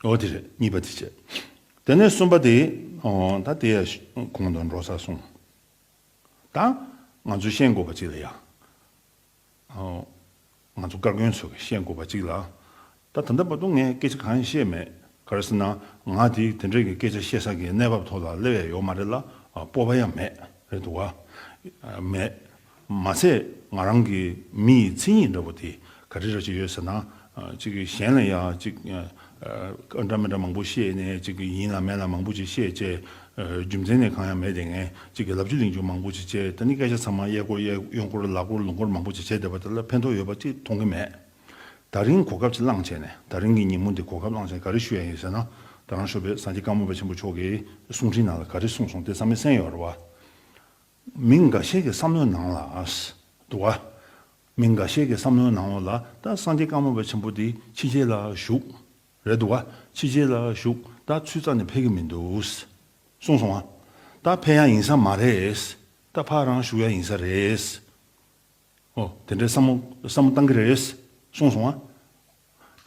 འོ་དེ་རེད་གཉིས་པ་དེ་བྱས། དེ་ནས་གསུམ་པ་དེ། ད་དེ་ཡང་གོང་དང་འགྲོ་ས་སོང། ད་ང་ཚོས་ཤེས་དགོས་པ་ཅིག་ལ་ཡང། ང་ཚོ་བཀའ་བཀོན་ཚོ་གིས་ཤེས་དགོས་པ་ཅིག་ལ། ད་ད་ལྟ་བར་དུ་ངས་སྐད་ཆ་གང་ཡང་བཤད་མེད། ག་རེ་ཟེར་ན་ང་དེ་དེ་འདྲ་གི་སྐད་ཆ་བཤད་ས་གི་གནས་བབ་ཐོག་ལ་སླེབས་ཡ་ཡོད་མ་རེད་ལ་སྤོབས་པ་ཡང་མེད་རེད་འདུག་ག། མེད། མ་ཚད་ང་རང་གི་མི་ཡི་མཚན་ཉིད་འདྲ་བོ་དེ་ག་རེ་རེ་བྱས་ཡོད་ཟེར་ན། གཅིག་གཞན་ལ་ཡང་གཅིག་འདྲ་མི་འདྲ་མང་པོ་བཤད་ནས་གཅིག་ཡིན་ལ་མེད་ལ་མང་པོ་ཅིག་བཤད་བཅས་རྒྱུ་མཚན་ནི་གང་ཡང་མེད་དེ་ངས་གཅིག་གི་ལབ་རྒྱུ་གླེང་རྒྱུ་མང་པོ་ཅིག་བྱས་ད་ནི་སྐད་ཆ་ཚང་མ་གཡས་སྐོར་གཡོན་སྐོར་ལག་སྐོར་ལུང་སྐོར་མང་པོ་ཅིག་བྱས་བསྡད་པ་དེ་ལ་ཕན་ཐོགས་ཡོད་པ་གཅིག་མཐོང་གི་མེད། ད་རིང་གོ་སྐབས་ཅིག་བླངས་བྱས་ནས་ད་རིང་གི་ཉིན་མོ་འདི་གོ་སྐབས་བླངས་བྱས་ནས་ག་རེ་ཞུ་ཡ་ཡིན་ཟེར་ན། ད་རང་ཤོ་པའི་ཟངས་ཀྱི་དཀར་མོ་བ་ཆེན་པོ་མཆོག་གིས་གསུང་འཕྲིན་ནང་ལ་ག་རེ་གསུངས་སོང་དེ་ཚང་མའི་གསན་ཡོད་རེད་བ། མི་འགའ་ཤས་ཀྱི་བསམ་བློའི་ནང་ལ། དུ་བ། མི་འགའ་ཤས་ཀྱི་བསམ་བློའི་ནང་ལ་ད་སངས་རྒྱས་བཀའ་མོལ་བ་ཆེན་པོ་འདི་ཕྱི་རྒྱལ་ལ་བཞུགས། རེད་དུ་བ། ཕྱི་རྒྱལ་ལ་བཞུགས་ད་ཚུད་རྩ་ནས་ཕེབས་ཀྱི་མི་འདུག། གསུངས་སོང་ང། ད་ཕེབས་ཡ་ཡིན་ས་མ་རེད། ད་ཕ་རང་བཞུགས་ཡ་ཡིན་ས་རེད། ཨོ་དེ་འདྲའི་བསམ་བསམ་བློ་བཏང་གི་རེད། གསུངས་སོང་ང།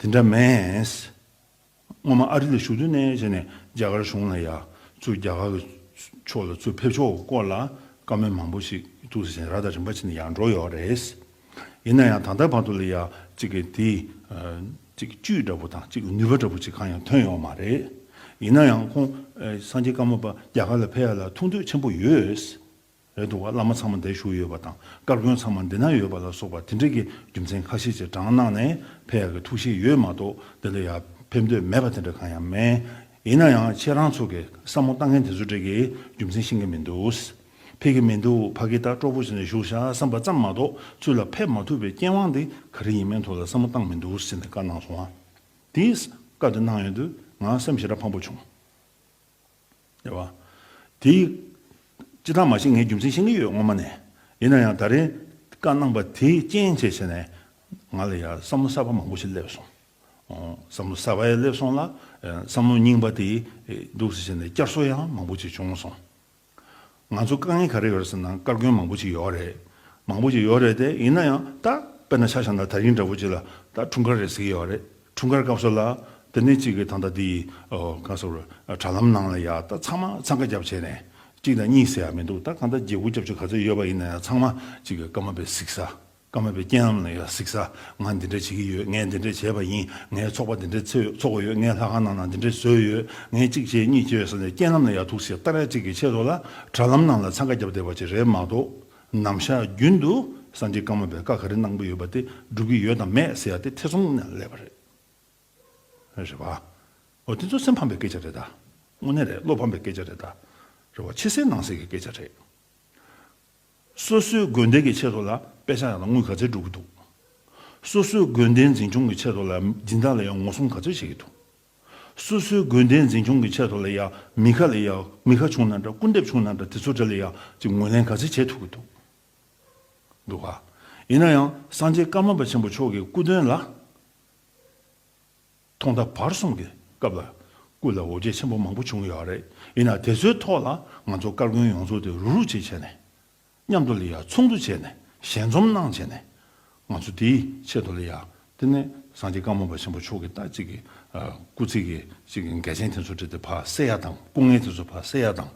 དེ་འདྲ་མེད། སྔོན་མ་ཨ་རི་ལ་བཞུགས་དུས་ནས་བྱས་ནས་རྒྱ་གར་གཞུང་ལ་ཡ་ཚུར་རྒྱ་གར་གྱི་ཕྱོགས་ལ་ཚུར་ཕེབས་ཕྱོགས་སྐོར་ལ་བཀའ་མོལ་མང་པོ་ཞིག་ཐུགས་སུ་བཞེས་ནས་ར་ཐག་རིང་བ་ཕྱིན་ནས་ཡར་འགྲོ་ཡོད་རེད། ཡིན་ན་ཡང་ད་ལྟ་བར་དུ་ལ་ཡ་གཅིག་གི་དེ་གཅིག་བཅུད་འདྲ་པོ་དང་གཅིག་གི་ནུས་པ་འདྲ་པོ་ཅིག་གང་ཡང་ཐོན་ཡོད་མ་རེད། ཡིན་ན་ཡང་ཁོང་སངས་རྒྱས་བཀའ་མོལ་པ་རྒྱ་གར་ལ་ཕེབས་ཡ་ལ་ཐུགས་འདོད་ཆེན་པོ་ཡོད། རེད་འདུག་བླ་མ་ཚང་མ་འདས་བཞུགས་ཡོད་པ་དང་དཀར་དགོན་ཚང་མ་འདི་ན་ཡོད་པ་ལ་སོགས་པ་དེ་འདྲས་ཀྱི་རྒྱུ་མཚན་ཁ་ཤས་ཀྱི་བགྲང་གནང་ནས་ཕེབས་ཡག་གི་ཐུགས་གཞེས་ཡོད་མ་གཏོགས་འདི་འདྲ་ཡར་ཕེབས་འདོད་མེད་པ་དེ་འདྲ་གང་ཡང་མེད། ཡིན་ན་ཡང་ཁྱེད་རང་ཚོ་གིས་བསམ་བློ་བཏང་མཁན་དེ་ཚོ་འདྲས་ཀྱི་རྒྱུ་མཚན་ཤེས་མཁན་མི་འདུག་ཕེབས་ཀྱི་མི་འདུག་ཕ་གི་ལྟར་ཀྲོག་པོ་བྱས་ནས་བཞུགས་བཞག་བསམ་པ་ཙམ་མ་གཏོགས་ཚུར་ལ་ཕེབས་མ་ཐུབ་པའི་རྐྱེན་དབང་དེ་ག་རེ་ཡིན་མིན་ཐོག་ལ་བསམ་བློ་བཏང་མི་འདུག་ཟེར་ནས་བཀའ་གནང་སོང་བ་དེས་བཀའ་དེ་གནང་ཡོང་དུས་ང་སེམས་ཞེ་དྲག་ཕམ་པོ་བྱུང། ཟེར་བ། དེ། ཅི་ཐ་མ་ཞིག་ངས་རྒྱུ་མཚན་ཤེས་ཀྱི་ཡོད་སྔོན་མ་ནས། ཡིན་ན་ཡང་ད་རིང། བཀའ་གནང་པ་དེའི་རྐྱེན་བྱས་བྱས་ནས། ང་ལ་ཡང་བསམ་བློ་གསར་པ་མང་པོ་ཞིག་སླེབས་སོང། བསམ་བློ་གསར་པ་ཡང་སླེབས་སོང་ལ། བསམ་བློ་རྙིང་པ་དེ། འདུག་ཟེར་བྱས་ནས་བསྐྱར་གསོ་ཡང་མང་པོ་ཅིག་བྱུང་སོང། ང་ཚོ་དཀའ་ངལ་ག་རེ་ཡོད་རེད་ཟེར་ན་སྐར་རྒོན་མང་པོ་ཅིག་ཡོད་རེད། མང་པོ་ཅིག་ཡོད་རེད་དེ་ཡིན་ན་ཡང་ད་དཔེར་ན་ཤ་ཞང་དང་དར་ཡིན་འདྲ་བོ་ཅིག་ལ་ད་འཁྲུངས་སྐར་རེད་ཟེར་གྱི་ཡོད་རེད་འཁྲུངས་སྐར་སྐབས་སུ་ལ་དེ་ནས་གཅིག་གིས་ད་ལྟ་འདི་ག་སོ་རུ་དྲ་ལམ་ནང་ལ་ཡ་ད་ཚང་མ་འཚང་ཁ་རྒྱབ་བྱས་ནས་གཅིག་དང་གཉིས་ཟེར་ཡ་མི་འདུག་ད་གང་ལྟར་རྗེ་སྒུག་རྒྱབ་ཆོག་ག་ཚོད་ཡོད་པ་ཡིན་ན་ཡང་ཚང་མ་གཅིག་གིས་སྐར་མ་པའི་གཟིགས་ས། ཀ་མ་པའི་རྐྱེན་རྣམས་ལ་ཡང་གཟིགས་ས། ང་འདི་འདྲ་བྱེད་ཀྱི་ཡོད་ངས་འདི་འདྲ་བྱས་པ་ཡིན་ངའི་ཚོགས་པ་འདི་འདྲ་ཚོས་འཚོགས་དགོས་ཡོད་ངས་ལྷ་ཁང་ནང་ན་འདི་འདྲ་བཟོས་ཡོད་ངས་གཅིག་བྱས་གཉིས་བྱས་ཟེར་ནས་རྐྱེན་རྣམས་ལ་ཡང་ཐུགས་སེ་ཏཱ་རལ་གཅིག་གི་ཆེད་དུ་ལ་དྲྭ་ལམ་ནང་ལ་འཚང་ཁ་བརྒྱབ་བསྡད་པ་ཅིག་རེད་མ་གཏོགས་ནམ་ཞར་རྒྱུན་དུ་ས་འདི་ཀ་མ་པའི་ཀ་ག་རེ་གནང་གི་ཡོད་པ་དེ་སྒྲུབ་ཀྱི་ཡོད་དམ་མེད་ཟེར་ཡ་དེ་ཐེ་ཚོམ་ནས་སླེབས་པ་རེད། རེད་བ། འོ་དེ་ཚོ་སེམས་ཕམ་པའི་སྐད་ཆ་རེད་ད། དངོས་གནས་རེད་བློ་ཕམ་པའི་སྐད་ཆ་རེད་ད། རེད་བ། ཕྱི་གསལ་ནང་གསལ་གྱི་སྐད་ཆ་རེད། སོ་སོའི་དགོན་སྡེ་གི་ཆེད་དུ་ལ་དཔེ་ཆ་ཡང་ན་དངུལ་ག་ཚད་སྒྲུབ་ཀྱི་འདུག་སོ་སོའི་དགོན་སྡེའི་འཛིན་སྐྱོང་གི་ཆེད་དུ་ལ་སྦྱིན་བདག་ལ་ཡང་ངོ་སྲུང་ག་ཚོད་བྱེད་ཀྱི་འདུག་སོ་སོའི་དགོན་སྡེའི་འཛིན་སྐྱོང་གི་ཆེད་དུ་ལ་ཡང་མི་ག་ལ་ཡང་མི་ག་བྱུང་ན་འདྲ་སྐུར་འདེབས་བྱུང་ན་འདྲ་དེ་ཚོ་འདྲ་ལ་ཡང་ཅིག་ངོས་ལེན་ག་ཚད་བྱེད་ཐུབ་ཀྱི་འདུག་འདུག་ག་ཡིན་ན་ཡང་སངས་རྒྱས་ཀརྨ་པ་ཆེན་པོ་མཆོག་གི་སྐུ་དོན་ལ། ཐོག་མཐའ་བར་གསུམ་གྱི་སྐབས་ལ་སྐུ་ལ་འོ་བརྒྱལ་ཆེན་པོ་མང་པོ་བྱུང་ཡོད་རེད་ཡིན་ནའང་དེ་ཚོའི་ཐོག་ལ་ང་ཚོ་སྐར་དགོན་ཡོངས་རྫོགས་དེ་རུག་རུག་བྱེད་བྱས་ནས། མཉམ་དུ་ལ་ཡ་ཚོགས་འདུ་བྱས་ནས་ཞལ་འཛོམས་གནང་བྱས་ནས། ང་ཚོ་དེའི་ཆེད་དུ་ལ་ཡ་དེ་ནས་སངས་རྒྱས་བཀའ་མོལ་པ་ཆེན་པོ་མཆོག་གི་ལྟ་ཅིག་གི་སྐུ་ཚེ་གི་ཅིག་གི་འགལ་ཆེན་དེ་ཚོ་དྲི་དེ་བར་སེལ་ཡ་དང་སྐུ་ངལ་དེ་ཚོ་བར་སེལ་ཡ་དང།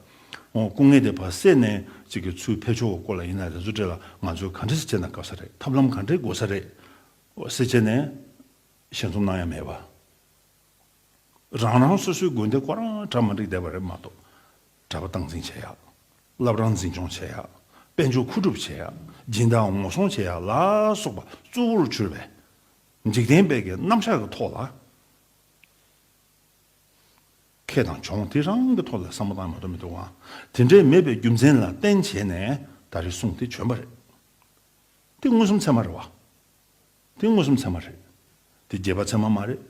ཨོ་སྐུ་ངལ་དེ་བར་སེལ་ནས་ཅིག་གི་ཚུལ་ཕེབས་ཆོག་གི་སྐོར་ལ་ཡིན་ནའང་དེ་ཚོ་དྲི་ལ་ང་ཚོས་ག་འདྲི་ཟེར་བྱས་ན་གབ་ས་རེད་ཐབས་ལམ་ག་འདྲི་དགོས་ས་རེད་ཟེར་བྱས་ནས། ཞལ་འཛུམ་སྣང་ཡང་མེད་པ། རང་རང་སོ་སོའི་དགོན་སྡེ་ཁོ་རང་གྲྭ་མ་འགྲིག་བསྡད་པ་རེད་མ་གཏོགས། གྲྭ་པ་སྟངས་འཛིན་བྱེད་ཡག། བླ་བྲང་འཛིན་སྐྱོང་བྱེད་ཡག། དཔལ་འབྱོར་མཁོ་སྒྲུབ་བྱེད་ཡག། སྦྱིན་བདག་ངོ་སྲུང་བྱེད་ཡག་ལ་སོགས་པ་གཙོ་བོར་གྱུར་པའི། འཇིག་རྟེན་དཔལ་གྱི་རྣམ་གཞག་གི་ཐོག་ལ། ཁེ་དང་གྱོང་དེ་རང་གི་ཐོག་ལ་བསམ་བློ་བཏང་མ་གཏོགས་མི་འདུག་ཨང། དེ་འདྲའི་མེད་པའི་རྒྱུ་མཚན་ལ་བརྟེན་བྱས་ནས་ད་རེས་གསུངས་དེ་བྱོན་པ་རེད། དེ་མངོན་སུམ་ཚད་མ་རེད་བ། དེ་མངོན་སུམ་ཚད་མ་རེད། དེ་བརྒྱད་པ་ཚད་མ་མ་རེད།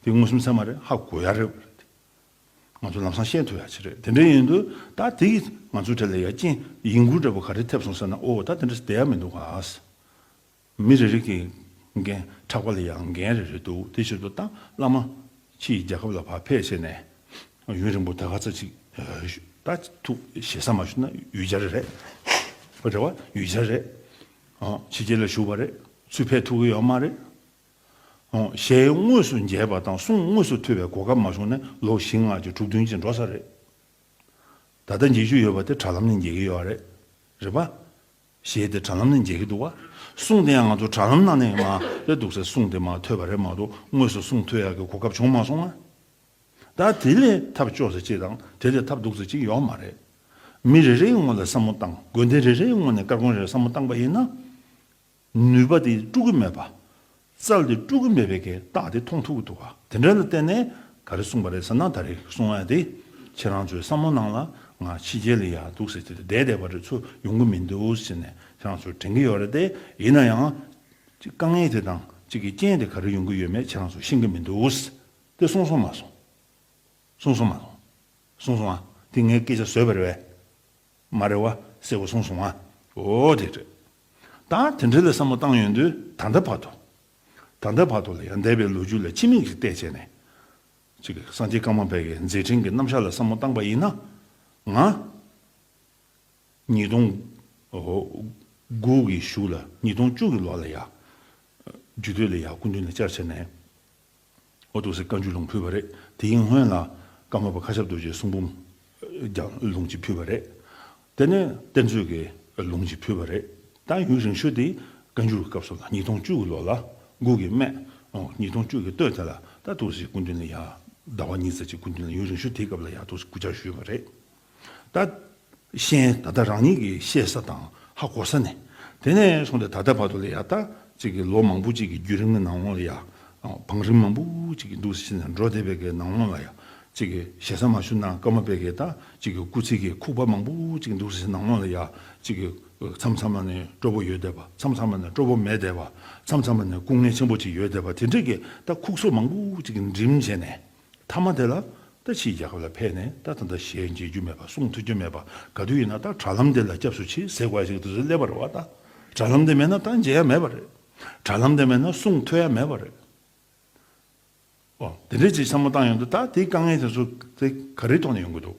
དེ་མངོན་སུམ་ཚད་མ་རེད་ཧ་གོ་ཡག་རེད་བ་རེད། ང་ཚོ་ལམ་སང་ཤེས་ཐུབ་ཡག་ཆེ་རེད་དེ་འདྲའི་ཡིན་དུས་ད་དེ་གིས་ང་ཚོའི་གྲས་ལ་ཡ་རྐྱེན་ཡིད་མགུ་འདྲ་པོ་ག་རེ་ཐེབས་སོང་ཟེར་ན་ཨོ་ད་དེ་འདྲ་བསྡད་ཡ་མི་འདུག་ག་མི་རེ་རེ་གི་འགན་ཕྲག་པ་ལ་ཡ་འགན་རེ་རེ་འདུག་དེ་ཕྱིར་དུ་ཏང་བླ་མ་ཁྱི་ཡིས་རྒྱལ་ཁབ་ལ་བག་ཕེབས་བྱས་ནས་ཡུན་རིང་པོ་ད་ག་ཚ་ཅིག་ད་ཐུག་ཞེ་ས་མ་ཞུ་ན་ཡུལ་གྱར་རེད་རེད་བ་ཡུལ་གྱར་རེད། ཕྱི་རྒྱལ་ལ་བཞུགས་པ་རེད། ཚུལ་ཕལ་ཐུག་གི་ཡོད་མ་རེད། གཞས་དངོས་སུ་མཇལ་བ་དང་གསུང་དངོས་སུ་ཐོས་པའི་གོ་སྐབས་མ་བྱུང་ནས་ལོ་བཞི་ལྔ་བཅུ་དྲུག་བདུན་གཅིག་འགྲོ་ས་རེད། ད་ལྟ་མཇལ་རྒྱུ་ཡོད་པ་དེ་དྲ་ལམ་ནས་མཇལ་གྱི་ཡོད་རེད། རེད་པ། གཞས་དེ་དྲ་ལམ་ནས་མཇལ་གྱི་འདུག་བ། གསུང་དེ་ཡང་ང་ཚོ་དྲ་ལམ་ནང་ནས་མ་རེད་འདུག་སའི་གསུང་དེ་མ་ཐོས་པ་རེད་མ་གཏོགས་དངོས་སུ་གསུང་ཐོས་ཡག་གི་གོ་སྐབས་བྱུང་མ་སོང་ང། ད་དེ་ལས་ཐབས་སྤྱོ་ཟེར་གཅིག་དང་དེ་ལས་ཐབས་སྡུག་ཟེར་གཅིག་ཡོག་མ་རེད། མི་རེ་རེའི་སྔོན་ལ་བསམ་མོ་བཏང་དགོས་འདི་རེ་རེའི་སྔོན་ནས་སྐར་ཁུང་རེར་བསམ་མོ་བཏང་པ་ཡིན་ན། ནུས་པ་དེ་དཀྲུག་གི་མེད་པ། རྩལ་དེ་དཀྲུག་གི་མེད་པའི་གེ་རྟགས་དེ་མཐོང་ཐུབ་ཀྱི་འདུག་ག་དེ་འདྲ་ལ་བརྟེན་ནས་ག་རེ་གསུངས་པ་རེད་ཟེར་ན་ད་རེ་གསུང་ཡ་དེ་ཁྱེད་རང་ཚོས་བསམ་མོ་གནང་ལ་ང་ཕྱི་རྒྱལ་ལ་ཡ་འདུག་ཟེར་དེ་བསྡད་བསྡད་པ་རེ་ཚོ་ཡོང་གི་མི་འདུག་ཟེར་ནས་ཁྱེད་རང་ཚོར་དྲན་གྱི་ཡོག་རེད་དེ་ཡིན་ན་ཡང། དཀའ་ངལ་དེ་དང་གཅིག་གི་རྐྱེན་དེ་ག་རེ་ཡོང་གི་ཡོད་མེད་ཁྱེད་རང་ཚོ་ཤེས་ཀྱི་མི་འདུག། དེ་གསུང་སོང་མ་སོང། གསུང་སོང་མ་སོང། གསུང་སོང་ཨ། དེ་ངའི་སྐད་ཆ་བཟོས་པ་རེད་བས། མ་རེད་བ། གསལ་བོ་གསུང་སོང་ཨ། འོ་དེ་རེད། ད་དེ་འདྲ་ལ་བསམ་བློ་བཏང་ཡོང་དུས་ད་ལྟའི་བར་དུ། ད་ལྟའི་བར་དུ་ལ་ཡང་འདས་པའི་ལོ་རྒྱུས་ལ་ཕྱི་མིག་ཅིག་བལྟས་བྱས་ནས། ཅིག་གིས་སངས་རྒྱས་ཀརྨ་པའི་གའི་མཛད་འཕྲིན་གྱི་རྣམ་བཞག་ལ་བསམ་བློ་བཏང་པ་ཡིན་ན། ང། ཉིས་སྟོང། དགུ་གི་བཞུགས་ལ་ཉིས་སྟོང་བཅུ་གི་ལོ་ལ་ཡ། རྒྱུ་སྟོད་ལ་ཡ་སྐུ་མདུན་ལ་བཅར་བྱས་ནས། ཨོ་ཏོ་སི་བཀའ་འགྱུར་ལུང་ཕུལ་བ་རེད། དེའི་སྔོན་ལ་ཀརྨ་པ་མཁའ་ཁྱབ་རྡོ་རྗེའི་གསུང་འབུམ་ཀྱང་ལུང་གཅིག་ཕུལ་བ་རེད། དེ་ནས་བསྟན་བཅོས་ཀྱི་ལུང་གཅིག་ཕུལ་བ་རེད། ད་ཡུན་རིང་ཤོས་དེ་བཀའ་འགྱུར་གྱི་སྐབས་སོགས་དང་ཉིས་སྟོང་བཅུ་གྱི་ལོ་ལ་མགུར་གྱི་སྨད། ཉིས་སྟོང་བཅུ་གྱི་སྟོད་དེ་ལ་ད་ཏོག་སིའི་སྐུ་མདུན་ལ་ཡང་ཟླ་བ་གཉིས་ཙམ་གྱི་སྐུ་མདུན་ལ་ཡུན་རིང་ཤོས་དེའི་སྐབས་ལ་ཡང་ཏོག་སིའི་སྐུ་བཅར་ཞུས་པ་རེད། ད། གཞན་ད་ལྟ་རང་ཉིད་ཀྱི་ཤེས་ས་དང་ཧ་གོ་ས་ནས་དེ་ནས་བཟུང་སྟེ་ད་ལྟ་བར་དུ་ལ་ཡ་ད་ཅིག་གི་ལོ་མང་པོ་ཅིག་གི་བརྒྱུད་རིམ་གྱི་ནང་ལོ་ཡ་བང་རིམ་མང་པོ་ཅིག་གི་འདུག་ཟེར་ནས་འགྲོ་བསྡད་པའི་གའི་ནང་ལོ་ལ་ཡ་ཅིག་གི་ཞེ་ས་མ་ཞུ་ན་སྐར་མ་པའི་གའི་ད་ཅིག་གི་སྐུ་ཚེ་གའི་ཁུག་པ་མང་པོ་ཅིག་གི་འདུག་ཟེར་ནང་ལོ་ལ་ཡ་ཅིག་གི་མཚམས་མཚམས་མ་ནས་སྤྲོ་པོ་ཡོད་བསྡད་པ་མཚམས་མཚམས་མ་ནས་སྤྲོ་པོ་མེད་བསྡད་པ་མཚམས་མཚམས་མ་ནས་སྐུ་ངལ་ཆེན་པོ་ཅིག་ཡོད་བསྡད་པ་དེ་འདྲའི་གའི་ད་ཁུག་སོ་མང་པོ་ཅིག་གི་འགྲིམ་བྱས་ནས། མཐའ་མ་དེ་ལ་ད་ཕྱིས་རྒྱལ་ཁབ་ལ་ཕེབས་ནས་ད་ད་ད་ཞེས་མཇལ་རྒྱུ་མེད་པ་གསུང་ཐུབ་ཀྱི་མེད་པ་ག་དུས་ཡིན་ན་ད་དྲ་ལམ་དེ་ལ་སྐྱབས་སུ་མཆི་ཟེར་བ་ཞིག་དེ་ཚོ་སླེབས་པར་བ་ད་དྲ་ལམ་དེ་མེད་ན་ད་མཇལ་ཡ་མེད་པ་རེད། དྲ་ལམ་དེ་མེད་ན་གསུང་ཐོས་ཡ་མེད་པ་རེད། འོ་དེ་འདྲའི་ཅིག་བསམ་བློ་བཏང་ཡོང་དུས་ད་དེའི་དཀའ་ངལ་དེ་ཚོ་དེ་ག་རེའི་ཐོག་ནས་ཡོང་གི་འདུག་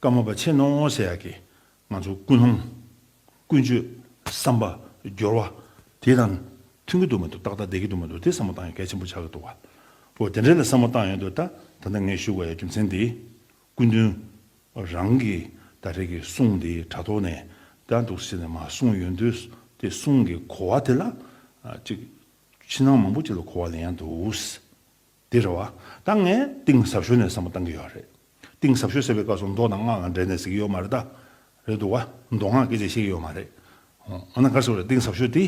བཀའ་མོལ་པ་ཆེ་ནོ་ཟེར་ཡག་གི་ང་ཚོ་ཀུན་སློང། ཀུན་སྤྱོད། བསམ་པ། སྦྱོར་བ། དེ་དང། མཐུན་གྱི་འདུག་མི་འདུག་ཏག་ཏག་བསྡད་ཀྱི་འདུག་མི་འདུག་དེ་བསམ་བློ་བཏང་ཡོད་གལ་ཆེན་པོ་ཆགས་ཀྱི་འདུག་བ། འོ་དེ་འདྲ་ལ་བསམ་བློ་བཏང་ཡོད་འདུག་ད། ད་ལྟ་ངས་ཞུ་དགོས་ཡ་རྒྱུ་མཚན་དེ། སྐུ་མདུན། རང་གི་ད་རེས་ཀྱི་གསུང་དེ་དྲ་ཐོག་ནས་ད་འདུག་ཟེར་ནས་མ་གསུངས་ཡོད་འདུག་དེ་གསུང་གི་གོ་བ་དེ་ལ། ཅིག། ཕྱི་ནང་མང་པོ་ཅིག་ལ་གོ་བ་ལེན་ཡག་འདུག། དེ་རེད་བ། ད་ངས་གཏིང་ཟབ་ཤོས་ནས་བསམ་བློ་བཏང་གི་ཡོད་རེད། གཏིང་ཟབ་ཤོས་ཟེར་བའི་སྐབས་སུ་མདོ་དང་སྔགས་ལ་འབྲེལ་ནས་ཟེར་གྱི་ཡོད་མ་རེད་ད། རེད་འདུག་བ། མདོ་སྔགས་སྐད་ཆ་བཤད་ཀྱི་ཡོད་མ་རེད། འོ་ན་ག་རེ་ཟེར་བ་རེད་གཏིང་ཟབ་ཤོས་དེ།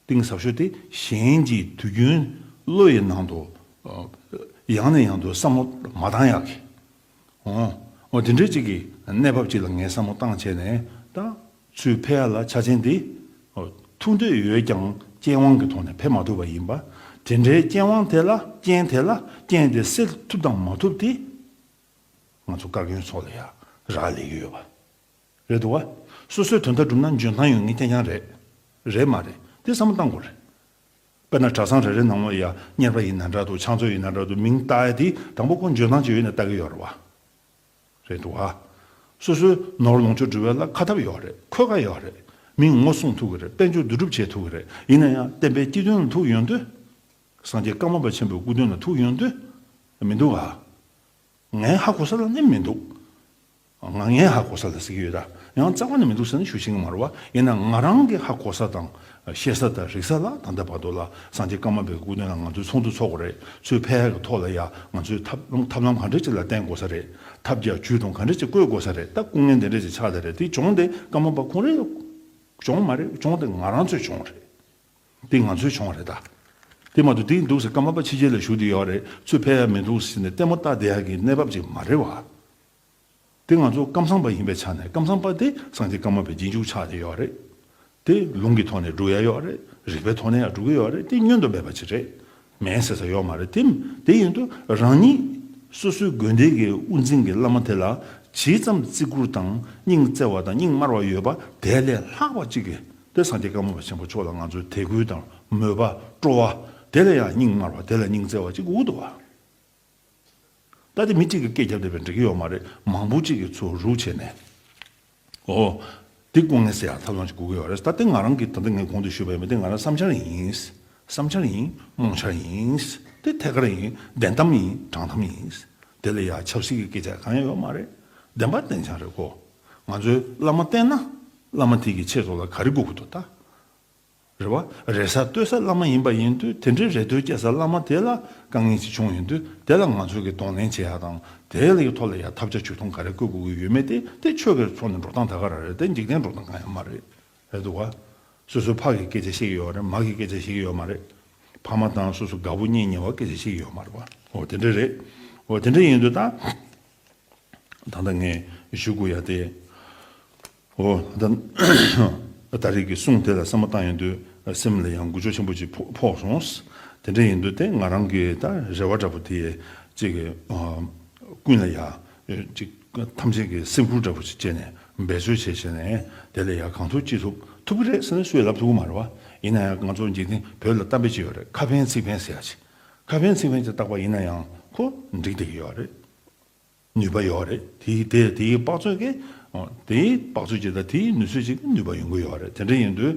གཏིང་ཟབ་ཤོས་དེ་གཞན་གྱི་དུས་རྒྱུན་བློ་ཡི་ནང་དུ། ཡང་ནས་ཡང་དུ་བསམ་བློ་མ་བཏང་ཡག་གི། ཨོ། དེ་འདྲའི་ཅིག་གི་གནས་བབ་ཅིག་ལ་ངས་བསམ་བློ་བཏང་བྱས་ནས་ད། ཚུལ་ཕལ་ཡར་ལ་ཆ་ཆེན་འདི། ཐུག་འདོད་ཡོད་ཀྱང་རྐྱེན་དབང་གི་ཐོག་ནས་ཕེབས་མ་ཐུབ་པ་ཡིན་པ། དེ་འདྲའི་རྐྱེན་དབང་དེ་ལ་རྐྱེན་དེ་ལ་རྐྱེན་དེ་སེལ་ཐུབ་དང་མ་ཐུབ་དེ། ང་ཚོ་བཀའ་བཀྱོན་སོགས་ལ་ཡ་རགས་ལས་ཀྱི་ཡོད་པ། རེད་འདུག་བ། སོ་སོའི་དོན་དག་སྒྲུབ་ན་འཇོན་ཐང་ཡོད་ངེས་ཀྱང་ཡང་རེད། རེད་མ་རེད་དེ་བསམ་བློ་བཏང་དགོས་རེད། དཔེར་ན་གྲྭ་ཚང་རེ་རེ་ནང་མོ་ཡ་གཉེར་པ་ཡིན་ན་འདྲ་འདུག་ཕྱག་མཛོད་ཡིན་ན་འདྲ་འདུག་མིང་བཏགས་ཡ་དེ་དང་པོ་ཀུན་འབྱོན་དང་བཅས་ཡོད་ན་བཏགས་ཀྱི་ཡོད་རེད་བ། རེད་འདུག་བ། སོ་སོའི་ནོར་ལོངས་སྤྱོད་འབྲི་བའི་ལ་ཁ་ཐབས་ཡོད་རེད་འཁོས་ཀ་ཡོད་རེད། མིང་ངོ་སྲུང་ཐུབ་ཀྱི་རེད་དཔལ་འབྱོར་འདུས་གྲུབ་བྱེད་ཐུབ་ཀྱི་རེད་ཡིན་ན་ཡང་བསྟན་པའི་སྐྱི་སྟོན་ལ་ཐུག་ཡོང་དུས། སངས་རྒྱས་བཀའ་མ་པ་ཆེན་པོའི་སྐུ་སྟོན་ལ་ཐུག་ཡོང་དུས། མི་འདུག་ག། ངའི་ཧ་གོ་ས་ལ་ནི་མི་འདུག། ང་ངའི་ཧ་གོ་ས་ལ་གཟིགས་ཡོད་ད་ཡང་རྩ་བ་ནས་མི་འདུག་ཟེར་ན་ཤུགས་ཆེན་གྱི་མ་རེད་བ་ཡིན་ནའང་ང་རང་གི་ཧ་གོ་ས་དང་ཤེས་ས་དང་རིག་ས་ལ་ད་ལྟ་བར་དུ་ལ་སངས་རྒྱས་བཀའ་མ་པའི་སྐུ་དོན་ལ་ང་ཚོས་ཚོགས་འདུ་འཚོགས་གོ་རེད་ཚོས་ཕལ་ཧ་གི་ཐོག་ལ་ཡང་ང་ཚོས་ཐབས་ལམ་ག་འདྲ་ཅིག་ལ་བརྟེན་དགོ་ས་རེད་ཐབས་བརྒྱ་ཇུས་སྟོང་ག་འདྲ་ཅིག་བཀོད་དགོ་ས་རེད་ད་སྐུ་ངལ་འདི་འདྲ་ཅིག་ཆགས་ད་རེད་དེ་སྦྱོང་དེ་བཀའ་མ་པ་ཁོང་རེད་སྦྱོང་མ་རེད་སྦྱོང་དེ་ང་རང་ཚོས་སྦྱོང་རེད་དེ་ང་ཚོས་སྦྱོང་རེད་ད་དེ་མ་འདུག་དེ་འདུག་ཟེར་བཀའ་མ་པ་ཕྱི་རྒྱལ་ལ་བཞུགས་དེ་ཡོད་རེད་ཚོས་ཕལ་ཧ་མི་འདུག་ཟེར་ནས་ལྟད་མོ་ལྟ་བསྡད་ཡག་གི་གནས་བབ་ཅིག་མ་རེད་བ། དེ་ང་ཚོ་ཀམ་སངས་པ་ཡིན་པའི་ཆ་ནས་ཀམ་སངས་པ་དེ་སངས་རྒྱས་ཀརྨ་པའི་རྗེས་འཇུག་ཆགས་ནས་ཡོད་རེད་དེ། ལུང་གི་ཐོག་ནས་འགྲོ་ཡ་ཡོད་རེད་རིག་པའི་ཐོག་ནས་ཡང་འགྲོ་གི་ཡོད་རེད་དེ་བསྙོན་དུ་མེད་པ་ཅིག་རེད་མེད་ཟེར་ས་ཡོད་མ་རེད་དེ། དེ་ཡིན་དུས་རང་ཉིད་སོ་སོའི་དགོན་སྡེ་གི་དབུ་འཛིན་གྱི་བླ་མ་དེ་ལ་ཇི་ཙམ་བརྩི་བཀུར་དང་སྙིང་བརྩེ་བ་དང་སྙིང་དམར་བ་ཡོད་པ་དེ་ལས་ལྷག་པ་ཅིག་གིས་དེ་སངས་རྒྱས་ཀརྨ་པ་ཆེན་པོ་མཆོག་ལ་ང་ཚོའི་དད་གུས་དང་མོས་པ་སྤྲོ་བ་དེ་ལས་ཡང་སྙིང་དམར་བ་དེ་ལ་སྙིང་བརྩེ་བ་ཅིག་འུ་ཐུག་བ། ལྟ་དེ་མི་གཅིག་གི་སྐད་རྒྱབ་བསྡད་པས་འགྲིག་གི་ཡོད་མ་རེད་མང་པོ་གཅིག་གི་ཚུར་རུག་བྱས་ནས། ཨོ། འདི་སྐུ་ངལ་སེ་ཡང་ཐབས་ལམ་ཅིག་སྒུག་གི་ཡོད་རེད་ད་དེ་ང་རང་གིས་ད་ལྟ་ངས་གོང་དུ་ཞུས་པའི་མི་དེ་ང་རང་བསམ་འཆར་ཡིན། བསམ་འཆར་ཡིན། རྨོངས་འཆར་ཡིན། དེ་ཐད་ཀར་ཡིན། བདེན་གཏམ་ཡིན། དྲང་གཏམ་ཡིན། དེ་ལས་ཡང་ཆབ་སྲིད་ཀྱི་སྐད་ཆ་གང་ཡང་ཡོད་མ་རེད། བདེན་པ་བདེན་ཆ་རེད་ཀོ། ང་ཚོའི་བླ་མ་བསྟེན་ན། བླ་མ་དེ་གིས་ཁྱེད་ཚོ་ལ་ག་རེ་སྒུག་གི་འདུག་ད། རེ་བ། རེ་ས་ལྟོས་ས་བླ་མ་ཡིན་པ་ཡིན་དུས་དེ་འདྲའི་རེ་ལྟོས་སྐྱེ་ས་བླ་མ་དེ་ལ་དཀའ་ངལ་ཅིག་བྱུང་ཡོད་དུས་དེ་ལ་ང་ཚོས་ཀྱིས་གདོང་ལེན་བྱེད་ཡག་དང་དེའི་ལའི་ཐོག་ལ་ཡང་ཐབས་བྱ་བྱུས་ཐུང་ག་རེ་བཀོད་དགོས་ཀྱི་ཡོད་མེད་དེ་དེ་ཆོས་ཁེར་ཚོགས་ནས་འགྲོ་སྟངས་ད་ག་རང་རེད་དེ་འཇིག་རྟེན་འགྲོ་སྟངས་གང་ཡང་མ་རེད། རེད་འདུག་ག། སོ་སོའི་ཕ་གི་སྐད་ཆ་བཤད་ཀྱི་ཡོད་རེད་མ་གི་སྐད་ཆ་བཤད་ཀྱི་ཡོད་མ་རེད། ཕ་མ་དང་སོ་སོ་དགའ་བོ་གཉིས་ཉེ་བར་སྐད་ཆ་བཤད་ཀྱི་ཡོད་མ་རེད་པ། འོ་དེ་འདྲ་རེད། འོ་དེ་འདྲ་ཡིན་དུས་ད། ད་ལྟ་ངས་ཞུ་དགོས་ཡག་དེ། ཨོ། ད་རེས་ཀྱི་གསུང་དེ་ལ་བསམ་བློ་བཏང་ཡོང་དུས་སེམས་ལ་ཡང་འགུལ་ཆོག་ཆེན་པོ་ཅིག་ཕོག་སོང། དེ་འདྲ་ཡིན་དུས་དེ་ང་རང་གི་ད་རེ་བ་འདྲ་པོ་དེ་ཅིག་ཀུན་ལ་ཡང་ཅིག་ཐམས་ཅད་ཀྱི་སེམས་ཁུར་འདྲ་པོ་ཅིག་བསྐྱེད་ནས་འབད་རྩོལ་བྱས་བྱས་ནས་དེ་ལས་ཡང་གང་ཐུབ་ཅི་ཐུབ་ཐུབ་ཀྱི་རེད་ཟེར་ན་སུས་ལབ་ཐུབ་ཀྱི་མ་རེད་བ། ཡིན་ན་ཡང་ང་ཚོ་འཇིག་རྟེན་བོད་ལ་གཏམ་དཔེ་ཅིག་ཡོད་རེད་ཁ་ཕན་ཚིག་ཕན་ཟེར་ཡག་ཅིག་ཁ་ཕན་ཚིག་ཕན་ཅིག་བཏགས་པ་ཡིན་ན་ཡང་ཁོ་འགྲིག་བསྡད་ཀྱི་ཡོད་རེད། ནུས་པ་ཡོད་རེད་དེ་དེ་དེའི་དཔག་ཚོད་ཀྱི་དེའི་དཔག་ཚོད་ཅིག་དང་དེའི་ནུས་ཚོད་ཅིག་གི་ནུས་པ་ཡོང་གི་ཡོད་རེད་དེ་འདྲ་ཡིན་དུས་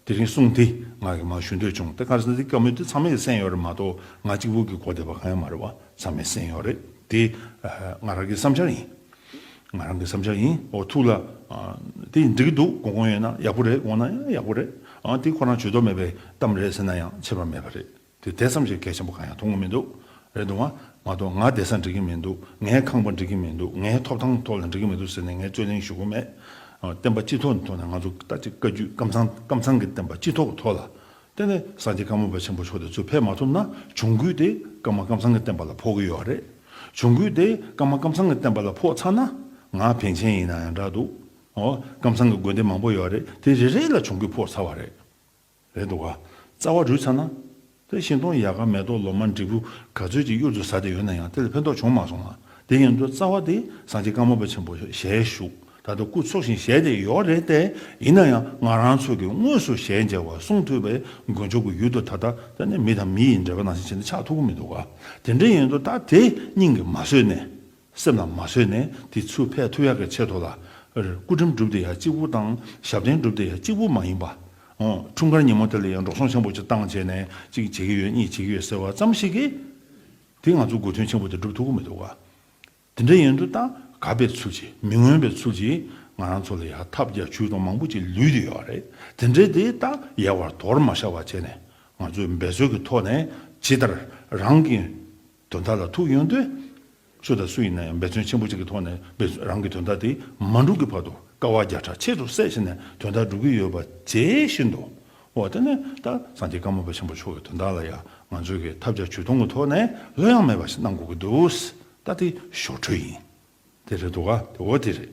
དེ་རིང་གསུང་དེ་ང་གིས་མ་ཞུ་འདོད་བྱུང་དེ་ག་རེ་ཟེར་དེ་སྐྱོ་མོས་དེ་ཚང་མས་གསན་ཡོད་རེད་མ་གཏོགས་ང་གཅིག་པུ་གིས་གོ་བདེ་བ་གང་ཡང་མ་རེད་བ་ཚང་མས་གསན་ཡོད་རེད་དེ་ང་རང་གི་བསམ་འཆར་ཡིན་ང་རང་གི་བསམ་འཆར་ཡིན་འོ་ཐུགས་ལ་དེ་འགྲིག་གི་འདུག་གོ་གོང་ཡོད་ན་ཡག་པོ་རེད་གོང་ན་ཡང་ཡག་པོ་རེད་དེ་ཁོ་རང་ཇུས་གཏོགས་མེད་པའི་གཏམ་རེད་ཟེར་ན་ཡང་ཆད་པ་མེད་པ་རེད། དེ་དེ་ཙམ་ཞིག་གལ་ཆེན་པོ་གང་ཡང་མཐོང་གི་མི་འདུག་རེད་འདུག་ང། མ་གཏོགས་ང་བདེ་ས་འགྲིག་གི་མི་འདུག་ངའི་ཁང་པ་འགྲིག་གི་མི་འདུག་ངའི་ཐོབ་ཐང་ཐོག་ལ་འགྲིག་གི་མི་འདུག་ཟེར་ནས་ངས་རྩོད་གླེང་ཞུ་གི་མེད། བསྟན་པ་སྤྱི་ཐོག་གི་ཐོག་ནས་ང་ཚོ་ལྟ་ཅི་དཀའ་རྒྱུད་སྐམ་ཚང་སྐམ་ཚང་གི་བསྟན་པ་སྤྱི་ཐོག་གི་ཐོག་ལ་བསྟན་ནས་སངས་རྒྱས་བཀའ་མོལ་པ་ཆེན་པོ་མཆོག་དེ་ཚོས་ཕེབས་མ་ཐུབ་ན་གྱོང་གུད་དེ་སྐམ་མ་སྐམ་ཚང་གི་བསྟན་པ་ལ་ཕོག་གི་ཡོད་རེད། གྱོང་གུད་དེ་སྐམ་མ་སྐམ་ཚང་གི་བསྟན་པ་ལ་ཕོག་ཚར་ན་ང་བན་ཆེན་ཡིན་ན་ཡང་འདྲ་འདུག། སྐམ་ཚང་གི་དགོན་སྡེ་མང་པོ་ཡོད་རེད་དེ་རེ་རེ་ལ་གྱོང་གུད་ཕོག་ཚར་བ་རེད། རེད་འདུག་ག། རྩ་བ་རུས་ཚར་ན། དེ་བཞིན་སྟོང་ཡལ་ག་མེ་ཏོག་ལོ་མ་འབྲས་བུ་ག་ཚོད་ཅིག་གཡུར་དུ་ཟ་བསྡད་ཡོད་ན་ཡང་དེ་ལ་ཕན་ཐོགས་བྱུང་མ་སོང་ང། དེ་ཡིན་དུས་རྩ་བ་དེ་སངས་རྒྱས་བཀའ་མོལ་པ་ཆེན་པོ་ཞལ་བཞུགས་ད་ལྟ་སྐུ་འཚོ་བཞིན་ཞལ་དེ་ཡོག་རེད་དེ་ཡིན་ན་ཡང་ང་རང་ཚོ་གི་དངོས་སུ་ཞལ་མཇལ་བ་གསུང་ཐོས་པའི་མགོན་མཆོག་གི་ཡུལ་དུ་ད་ལྟ་ད་ནི་མི་དང་མི་ཡི་འབྲེལ་བ་ནང་བཞིན་བྱེད་ན་ཆགས་ཐུབ་ཀི་མི་འདུག་ག། དེ་འདྲ་ཡིན་དུས་ད་དེ་སྙིང་གི་མ་བཟོད་ནས། གསེབ་ལ་མ་བཟོད་ནས་དེ་ཆུ་ཕས་ཐུ་ཡག་གི་ཆེད་དུ་ལ། སྐུ་ཕྲེང་སྒྲུབ་སྡེ་ཡག་གཅིག་པུ་དང་ཞབས་བརྟན་སྒྲུབ་སྡེ་ཡག་གཅིག་པུ་མ་ཡིན་པ། འཁྲུངས་སྐར་ཉིན་མོ་དེ་ལ་ཡང་འགྲོ་སོང་ཆེན་པོ་བྱེད་སྟངས་བྱས་ནས་གཅིག་བྱེད་ཀྱི་ཡོད་གཉིས་བྱེད་ཀྱི་ཡོད་ཟེར་བ་ཙམ་ཞིག་གིས། དེ་ང་ཚོ་དགོས་དོན་ཆེན་པོ་དེ་སྒྲུབ་ཐུབ་ཀྱི་མི་འདུག་ག། དེ་འདྲ་ཡིན་དུས་ད་ག་པའི་ཚུལ་གྱིས་མི་མངོན་པའི་ཚུལ་གྱིས་ང་རང་ཚོ་ལ་ཡག་ཐབས་རྒྱ་ཇུས་སྟོང་མང་པོ་ཅིག་ལུས་ཀྱི་ཡོད་རེད་དེ་འདྲས་དེ་ད་ཡལ་བར་དོར་མ་བཞག་པ་བྱས་ནས་ང་ཚོས་འབད་རྩོལ་གྱི་ཐོག་ནས་ཇི་ལྟར་རང་གི་དོན་དག་ལ་ཐུག་ཡོང་དུས། སུ་དང་སུ་ཡིན་ན་ཡང་འབད་བརྩོན་ཆེན་པོ་གཅིག་གི་ཐོག་ནས་འབད་བརྩོན་རང་གི་དོན་དག་དེ་མ་འགྲུབ་ཀྱི་བར་དུ་དཀའ་བ་བརྒྱ་ཕྲག་ཕྱེད་དྲུག་བསལ་བྱས་ནས་དོན་དག་འགྲུབ་ཀྱི་ཡོད་པ་བརྗེད་བཞིན་འདུག་འོ་དེ་ནས་ད་སངས་རྒྱས་བཀའ་མོལ་བ་ཆེན་པོ་མཆོག་གི་དོན་དག་ལ་ཡང་ང་ཚོས་ཀྱིས་ཐབས་བརྒྱ་ཇུས་སྟོང་གི་ཐོག་ནས་གླུ་དབྱངས་མེད་པ་ཞིག་གནང་དགོས་ཀྱི་འདུག་ད་དེ་ཞོར་འཕྲོས་ཡིན། དེ་རེད་འདུག་ག་དེ་འོ་དེ་རེད།